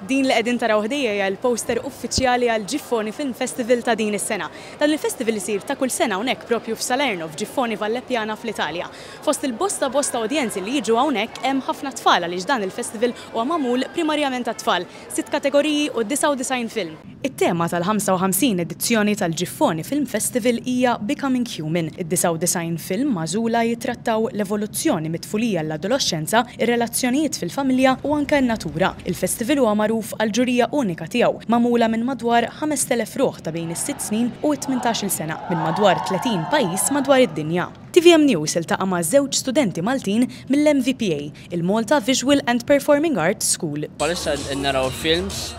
Din li qegħdin taraw ħdejja hija l-poster uffiċjali għal Giffoni Film Festival ta' din is-sena. Dan il-festival isir ta' kull sena hawnhekk propju f'Salerno, f'Giffoni Vallepjana fl-Italja. Fost il-bosta bosta udjenzi li jiġu hawnhekk hemm ħafna tfal għaliex dan il-festival huwa magħmul primarjament għat-tfal, sitt kategoriji u 99 film. It-tema tal-55 edizzjoni tal-Ġiffoni Film Festival hija Becoming Human. Id-99 film magħżula jittrattaw l-evoluzzjoni mit-tfulija għall-adoloxxenza, ir-relazzjonijiet fil-familja u anke n-natura. Il-festival huwa magħruf għall-ġurija unika tiegħu, magħmula minn madwar 5,000 ruħ ta' bejn is-sitt snin u t-tmintax-il sena, minn madwar 30 pajjiż madwar id-dinja. Tvm News iltaqa' ma' żewġ studenti Maltin mill-MVPA il-Malta Visual and Performing Arts School. Bħalissa qed naraw films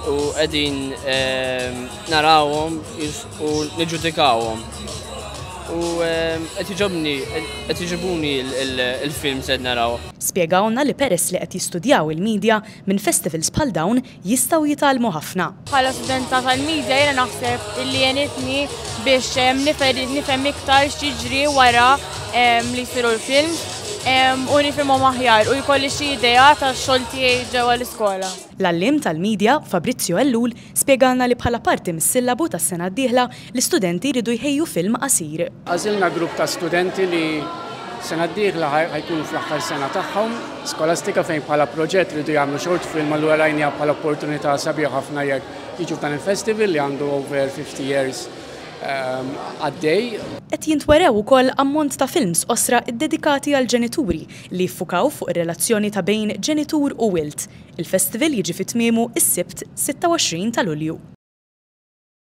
u qegħdin ehm, narawhom u niġġudikawhom. U ehm, qed jiġobni qed jiġibuni l-films qed naraw. Spjegawlna li peress li qed jistudjaw il-media minn festivals bħal dawn jistgħu jitgħallmu ħafna. Bħala studenta tal-media jiena naħseb illi għenitni biex nifhem iktar x'jiġri wara li jsiru l-films u nifhimhom aħjar u jkolli xi idea tax-xogħol tiegħi ġewwa l-iskola. L-għalliem tal-media, Fabrizio Ellul, spjegalna li bħala parti mis-sillabu tas-sena d-dieħla L-istudenti jridu jħejju film qasir. Għażilna grupp ta' studenti li sena d-dieħla ħa jkunu fl-aħħar sena tagħhom skolastika fejn bħala proġett iridu jagħmlu short film allura rajniha bħala opportunità sabiħa ħafna jekk jiġu f'dan il-festival li għandu over 50 years għaddej. Qed jintwerew ukoll ammont ta' films qosra ddedikati għall-ġenituri li jiffukaw fuq ir-relazzjoni ta' bejn ġenitur u wild. Il-festival jiġi fi tmiemu s-Sibt 26 ta' Lulju.